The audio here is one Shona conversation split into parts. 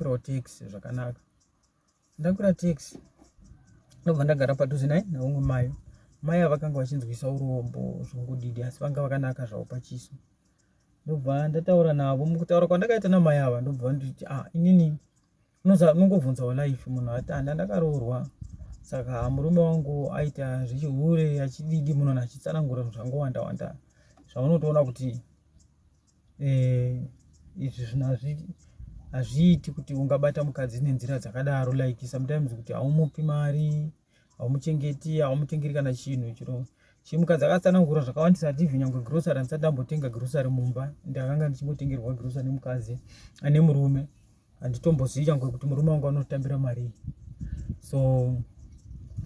ndakwirawo tax zvakanaka ndakwira tax ndobva ndagara padhuze naye naumwe mayo mai avakanga vachinzwisa urombo zvongodidi asi vanga vakanaka zvavo pachiso ndobva ndataura navo mukutaura kwandakaita namai ava ndobva vanditi a ah, inini unongobvunza walife munhu atanda ndakaroorwa saka murume wangu aita zvechihure achididi munhu achitsanangura zvangu wanda wanda zvaunotoona kuti eh, izvi zvinhu hazviiti kuti ungabata mukadzi nenzira dzakadaro like sometimes kuti haumupi mari haumuchengeti haumutengeri kana chinhu chiro chimukadzi akatsanangura zvakawandisa hativi nyangwe grosary handisati ndambotenga grosary mumba ndakanga ndichingotengerwa grosary nemukadzi ane murume handitombozivi changwe kuti murume wangu anotambira marii so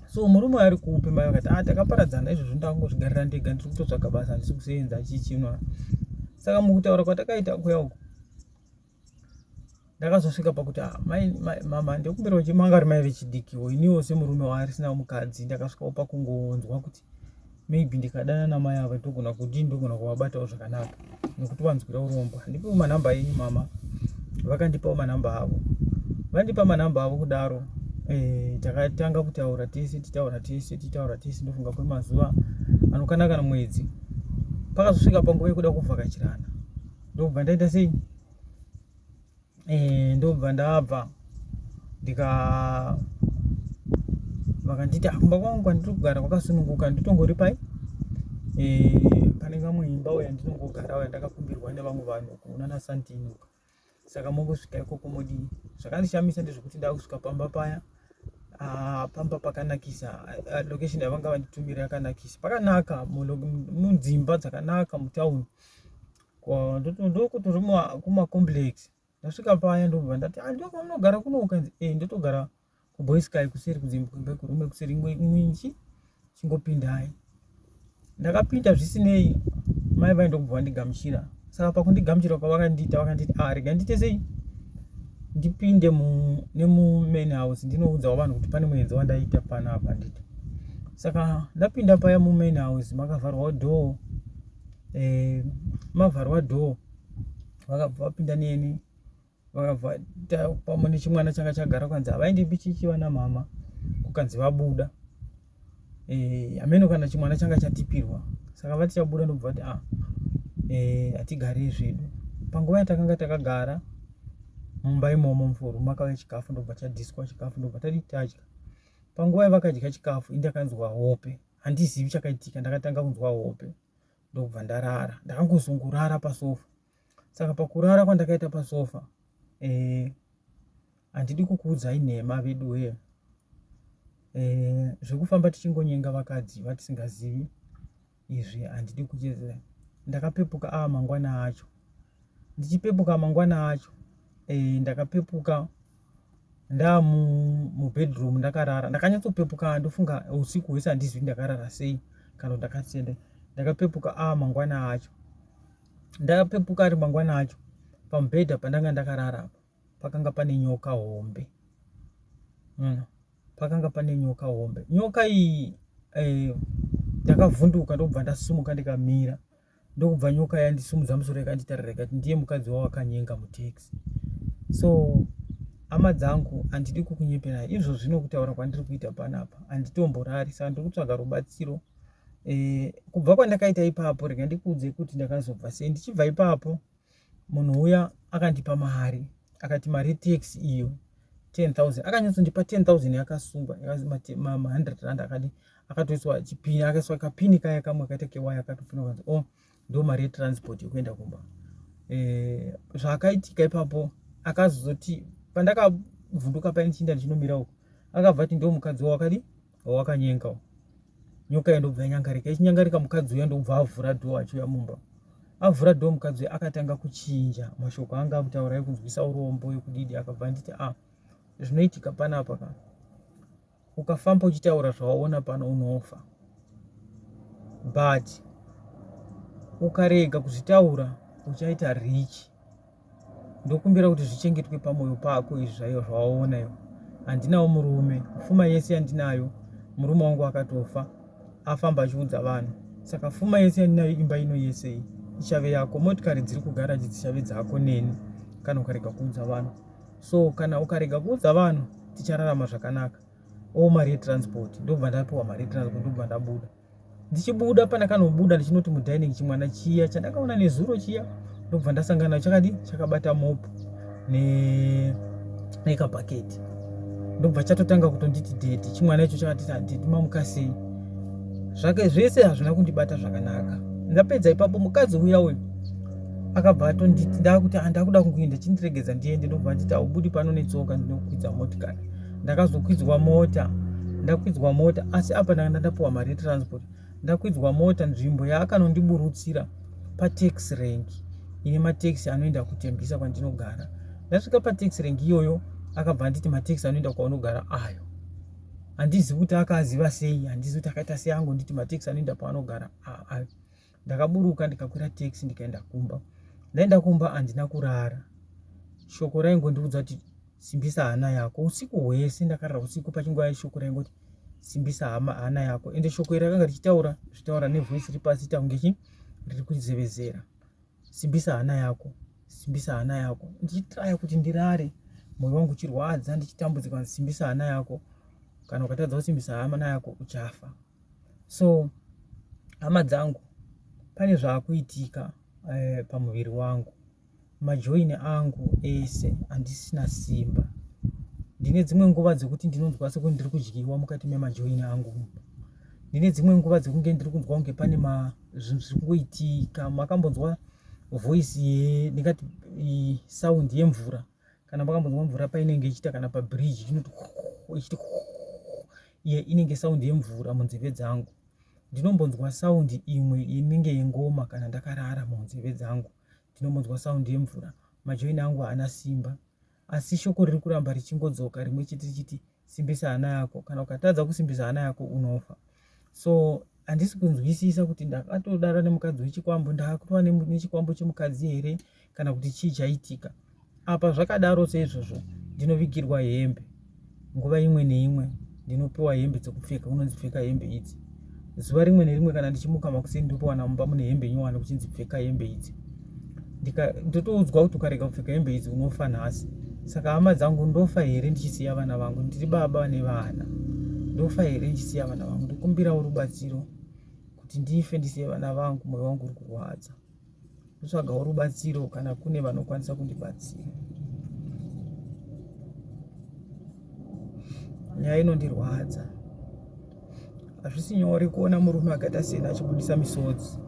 so murume ari kupi mai vakati ah takaparadzana izvozvo ndakungozvigarira ndega ndiri kutotsvaga basa handisi kusenza chichinwa saka mukutaura kwatakaita kuya uku ndakazosvika pakuti ah, mama ndekumbirawo chimanga ri mai vechidikiwo iniwo semurume waarisina mukadzi ndakasvikawo pakungonzwa kuti maybe ndikadana namai ava ndogona kuti ndogona kuvabatawo zvakanaka nekuti vanzwira urombo handipiwo manhamba enyu mama vakandipawo manhamba avo vandipa manhamba avo kudaro eh, takatanga kutaura tese titaura tese titaura tese ndofunga kwemazuva anokana kana mwedzi pakazosvika panguva yekuda kuvhakachirana ndobva ndaita sei eh, ndobva ndabva ndika vakanditi akumba ah, kwangu kwandiri kugara kwakasununguka nditongori pai eh, pane kamwe imba uya ndinongogara uya ndakakumbirwa nevamwe vanhu kuonana santino saka mongosvika ikoko modii zvakandishamisa ndezvekuti ndakusvika pamba paya ah, pamba pakanakisa ah, location yavanga vanditumira yakanakisa pakanaka munzimba dzakanaka mutauni ndokuti uri kumacomplex ndasvika paya ndobva ndati ah, ndo kwamunogara kuno ukanzi e ndotogara kuboys kai kuseri kudzimba kurume kuseri inchi chingopindai ndakapinda zvisinei mai vai ndokubva vandigamuchira saka pakundigamuchira kwavakandiita vakanditi a ah, rega ndiite sei ndipinde nemumain house ndinoudzawo vanhu kuti pane muenzi wandaita pano apa nditi saka ndapinda paya mumain house makavharwa door eh, mavharwa door vakabva vapinda neni vakabva pamwe nechimwana changa chagara kukanzi havaendi bichichi vana mama kukanzi vabuda eh, hameno kana chimwana changa chatipirwa saka vati chabuda ndobva vati a ah, eh, hatigare zvedu panguva yatakanga takagara mumba imomo mufuru makauya chikafu ndobva chadhiswa chikafu ndobva tadii tadya panguva yavakadya chikafu indakanzwa hope handizivi chakaitika ndakatanga kunzwa hope ndokubva ndarara ndakangozongorara pasofa saka pakurara kwandakaita pasofa eh, handidi eh, kukuudzai nhema veduwee eh, zvekufamba tichingonyenga vakadzi vatisingazivi izvi handidi kucheza ndakapepuka a ah, mangwana acho ndichipepuka mangwana acho eh, ndakapepuka ndamu mubedroom ndakarara ndakanyatsopepuka ndofunga usiku hwese handizwi ndakarara sei kana ndakasende ndakapepuka a ah, mangwana acho ndakapepuka ari mangwana acho pamubhedha pandanga ndakarara apo pakanga pane nyoka hombe mm. pakanga pane nyoka hombe nyoka iyi eh, ndakavhunduka ndokubva ndasumuka ndikamira ndokubva nyoka yandisumudza musoro ikanditarira ikati ndiye mukadzi wawakanyenga mutaxi so hama dzangu handidi kukunyeperai izvo zvino kutaura kwandiri kuita panapa handitomborari saka ndiri kutsvaga rubatsiro e, kubva kwandakaita ipapo rega ndikuudze kuti ndakazobva sei ndichibva ipapo munhu uya akandipa mari akati mari yetax iyo 10000 akanyatsondipa 10000 yakasungwa ma100 rand akadi akatoiswa chipini akaiswa kapini kaya kamwe akaita kewaya akatopina kanzi o oh, ndo mari yetransport yekuenda kumba eh, zvaakaitika ipapo akazozoti pandakavhunduka paini chinda ndichinomira uko akabva ati ndo mukadzi wawakadi wakanyenga uyu nyoka iyo ndobva yanyangarika ichinyangarika mukadzi uya ndobva avhura dho achiuya mumba avhura dho mukadzi uya akatanga kuchinja mashoko anga akutaura ekunzwisa urombo yekudidi akabva anditi a ah, zvinoitika panapa ka ukafamba uchitaura zvawaona pano unofa but ukarega kuzvitaura uchaita rich ndokumbira kuti zvichengetwe pamwoyo pako izvi zvaiyo zvawaona iyo handinawo murume fuma yese yandinayo murume wangu akatofa afamba achiudza vanhu saka fuma yese yandinayo imba ino yese iyi ichave yako motikari dziri kugaraji dzichave dzako neni kana ukarega kuudza vanhu so kana ukarega kuudza vanhu tichararama zvakanaka o mari yetransport ndobva ndapiwa mari yetransport ndobva ndabuda ndichibuda pandakanobuda ndichinoti mudining chimwana chiya chandakaona nezuro chiya ndobva ndasangana chakadi chakabata mop nekabhaketi ndobva chatotanga kutonditi dedi chimwana icho chakatiti adedi mamukasei zvake zvese hazvina kundibata zvakanaka ndapedza ipapo mukadzi uya uyu akabva atonditi ndakuti andakuda ah, kungoenda chindiregedza ndiende ndobva nditi aubudi pano netsoka ndinokwidza motikari ndakazokwidzwa mota ndakwidzwa mota asi apa ndakanda ndapiwa mari yetransport ndakwidzwa mota nzvimbo yaakanondiburutsira patax rank ine mataxi anoenda kutembisa kwandinogara ndasvika pataxi rank iyoyo akabva anditi mataxi anoenda kwaunogara ayo handizivi kuti akaziva sei handizivi kuti akaita sei angonditi mataxi anoenda paanogara ayo ndakaburuka ndikakwira tax ndikaenda kumba ndaenda kumba handina kurara shoko raingondiudza kuti simbisa hana yako usiku hwese ndakarara usiku pachinguva yeshoko raingoti simbisa hama hana yako ende shoko iri rakanga richitaura zvitaura nevoice iri pasi taunge chi riri kuzevezera simbisa hana yako simbisa hana yako ndichitraya kuti ndirare mwoyo wangu uchirwadza ndichitambudzika simbisa hana yako kana ukatadza kusimbisa hama nayako uchafa So hama dzangu pane zvakuitika eh, pamuviri wangu majoini angu ese handisina simba ndine dzimwe nguva dzekuti ndinonzwa sekuti ndiri kudyiwa mukati memajoini angu ndine dzimwe nguva dzekunge ndiri kunzwa kunge pane zvinhu zviri kungoitika makambonzwa voice ye ndingati saundi yemvura kana makambonzwa mvura painenge ichiita kana pabridge inoti ichiti iye inenge saundi yemvura munzeve dzangu ndinombonzwa saundi imwe inenge yengoma kana ndakarara munzeve dzangu ndinombonzwa saundi yemvura majoini angu haana simba asi shoko riri kuramba richingodzoka rimwe chete richiti chiti simbisa hana yako kana ukatadza kusimbisa hana yako unofa so handisi kunzwisisa kuti ndakatodara nemukadzi wechikwambo ndakutova nechikwambo chemukadzi here kana kuti chii chaitika apa zvakadaro seizvozvo ndinovigirwa hembe nguva imwe neimwe ndinopiwa hembe dzekupfeka unonzipfeka hembe idzi zuva rimwe nerimwe kana ndichimuka makuseni ndotowana mumba mune hembe nyowani kuchinzi pfeka hembe idzi ndotoudzwa kuti ukarega kupfeka hembe idzi unofa nhasi saka hama dzangu ndofa here ndichisiya vana vangu ndiri baba vane vana ndofa here ndichisiya vana vangu ndikumbirawo rubatsiro kuti ndife ndisiye vana vangu mwoyo wangu uri kurwadza kutsvagawo rubatsiro kana kune vanokwanisa kundibatsira nyaya inondirwadza hazvisi nyore kuona murume akaita sena achibudisa misodzi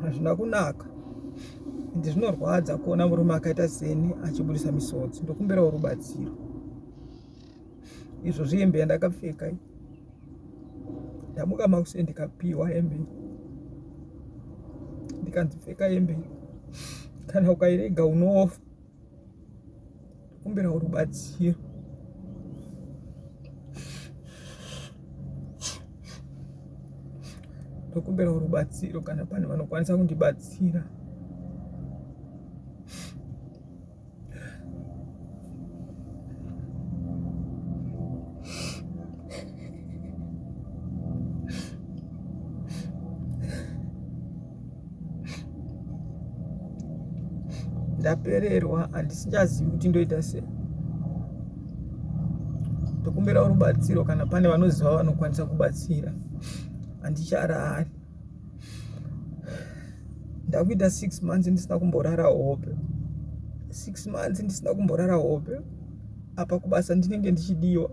hazvina kunaka ende zvinorwadza kuona murume akaita seni achibudisa misodzi ndokumbirawo rubatsiro izvo zvihembe yandakapfeka ndamuka makuseni ndikapiwa hembe ndikanzi pfeka hembe kana ukairega unofa kumbira rubatsiro ndokumbira rubatsiro kana pane vanokwanisa kundibatsira ndapererwa handisichazivi kuti ndoita sei ndokumbira rubatsiro kana pane vanoziva vanokwanisa kubatsira handicharari ndakuita six months ndisina kumborara hope six months ndisina kumborara hope apa kubasa ndinenge ndichidiwa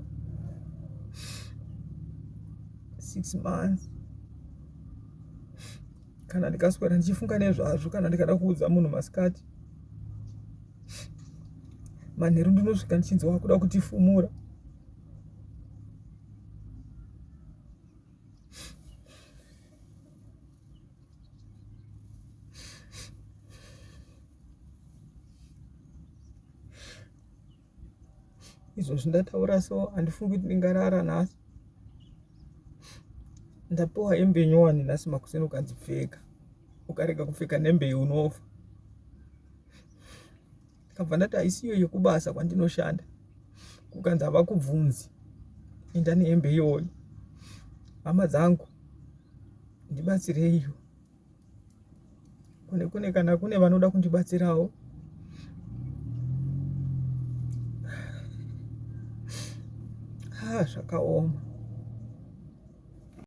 six months kana ndikaswera ndichifunga nezvazvo kana ndikada kuudza munhu masikati manheru ndinosvika ndichinzi wakuda kutifumura izvo zvindataura so handifungi kuti ndingarara nhasi ndapiwa hembe nyowani nhasi makuseni ukanzi pfeka ukarega kupfeka nhembe iyi unofa ndikabva ndati haisiyo yekubasa kwandinoshanda kukanzi havakubvunzi enda nehembe iyoyo hama dzangu ndibatsireiwo kune kune kana kune vanoda kundibatsirawo ha zvakaoma